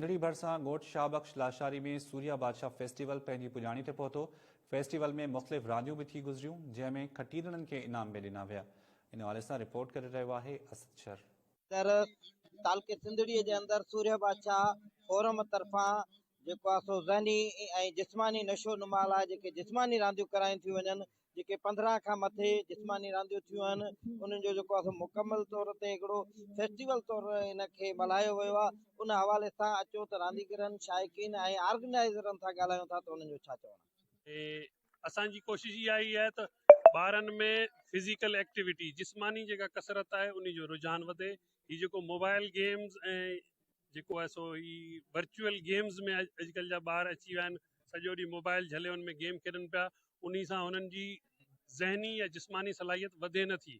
ننڍڙي ڀرسان ڳوٺ شاهه بخش لاشاري ۾ سوريا بادشاهه فيسٽيول پنهنجي پڄاڻي تي پهتو، فيسٽيول ۾ مختلف رانديون به ٿي گذريون، جنهن ۾ کٽيندڙن کي انعام به ڏنا ويا. ان حوالي سان رپورٽ ڪري رهيو آهي اسد شر. تر تعلقي سنڌڙي جي اندر سوريا بادشاهه فورم طرفان جيڪو آهي سو ذهني ۽ جسماني نشو نما لاء جيڪي جسماني رانديون ڪرايون ٿيون وڃن جيڪي پندرهن کان مٿي جسماني رانديون ٿيون آهن انهن جو جيڪو آهي مڪمل طور تي هڪڙو فيسٽيول طور ان کي ملهايو ويو آهي ان حوالي سان اچو ته رانديگرن شائقين ۽ آرگنائيزرن سان ڳالهايون ٿا ته انهن جو ڇا چوڻ آهي اسان جي ڪوشش اها ئي آهي ته ٻارن ۾ فزيڪل ايڪٽيوٽي جسماني جيڪا ڪسرت آهي انهي جو رجحان وڌي هي جيڪو موبائل گيمز ۽ جيڪو آهي سو هي ورچوئل گيمز ۾ اڄڪلهه جا ٻار اچي ويا آهن سڄو ڏينهن موبائل جهلي ان ۾ گيم کيڏن پيا انهي سان هنن جي ذهني يا جسماني صلاحيت وڌي نه ٿي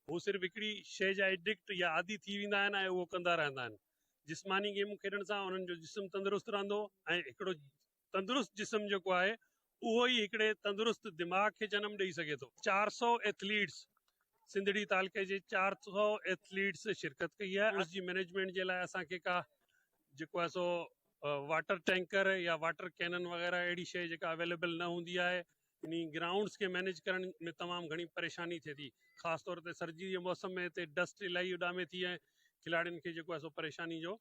هو صرف هڪڙي شيء جا ايڊڪٽ يا عادي ٿي ويندا آهن ۽ اهو ڪندا رهندا آهن جسماني گيمون کيڏڻ سان انهن جو جسم تندرست رهندو ۽ هڪڙو تندرست جسم جيڪو آهي اهو ئي هڪڙي تندرست دماغ کي جنم ڏئي سگهي ٿو. چار سؤ ايٿليٽس، سنڌڙي تعلقي جي چار سؤ ايٿليٽس شرڪت ڪئي آهي ان جي مئنيجمينٽ جي لاء اسان کي ڪا جيڪو آهي سو واٽر ٽينڪر يا واٽر ڪينن وغيره اهڙي شيء جيڪا اويليبل نه هوندي آهي انهي گرائونڊس کي مئنيج ڪرڻ ۾ تمام گهڻي پريشاني ٿئي ٿي خاص طور تي سردي جي موسم ۾ هتي ڊسٽ الاهي اڏامي ٿي ۽ کلاڙين کي جيڪو آهي سو پريشاني جو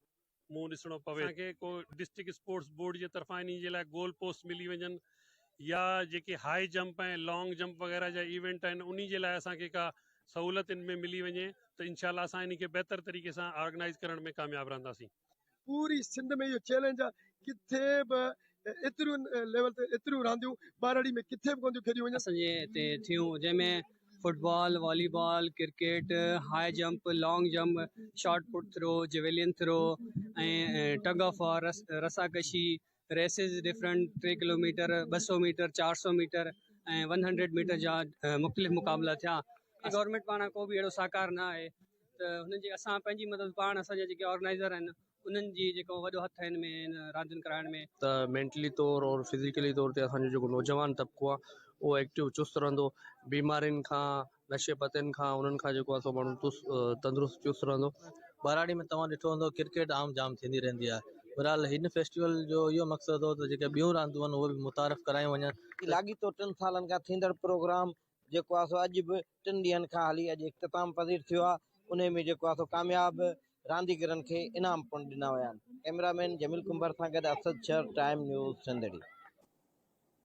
منهن ڏسڻو پوي اسان کي ڪو ڊسٽرڪٽ اسپورٽس بورڊ جي طرفان انهي جي لاء گول پوسٽ ملي وڃن يا جيڪي هاء جمپ ۽ لانگ جمپ وغيره جا ايونٽ آهن انهي جي لاء اسان کي ڪا سهولت ان ۾ ملي وڃي ته انشاء الله اسان انهي کي بهتر طريقي سان آرگنائيز ڪرڻ ۾ ڪامياب رهنداسين. پوري سنڌ ۾ اهو چئلينج آهي ڪٿي به ايترين ليول تي ايتريون رانديون ٻهراڙي ۾ ڪٿي به ڪونه ٿيون کيڏيون وڃن. اسان جي هتي ٿيون جنهن ۾ football, volleyball, cricket, high jump, long jump, shot put throw, javelin throw ۽ tug of war, رسا ڪشي، ريسز ڊفرنٽ ٽي ڪلو ميٽر، ٻه سؤ ميٽر، چار سؤ ميٽر ۽ ون هنڊريڊ ميٽر جا مختلف مقابلا ٿيا. گورنمينٽ پاران ڪو به اهڙو سهڪار نه آهي ته هن جي اسان پنهنجي مدد پاڻ اسان جا جيڪي آرگنائيزر آهن انهن جي جيڪو وڏو هٿ آهي ان ۾ ان راندين ڪرائڻ ۾. ته مينٽلي طور اور فزيڪلي طور تي اسان جو جيڪو نوجوان طبقو آهي اهو ايڪٽو چست رهندو بيمارين کان نشي پتين کان انهن کان جيڪو آهي سو ماڻهو تست تندرست چست رهندو. ٻهراڙي ۾ توهان ڏٺو هوندو ڪرڪيٽ عام جام ٿيندي رهندي آهي بهرحال هن فيسٽيول جو اهو مقصد هو ته جيڪي ٻيون راندون آهن اهي به متعارف ڪرايون وڃن ته لاڳيتو ٽن سالن کان ٿيندڙ پروگرام جيڪو آهي سو اڄ به ٽن ڏينهن کان هلي اڄ اختتام پذير ٿيو آهي انهي ۾ جيڪو آهي سو ڪامياب رانديگرن کي انعام پڻ ڏنا ويا آهن ڪئميرا مين جميل ڪنڀر سان گڏ اسد شر ٽائيم نيوز سنڌڙي.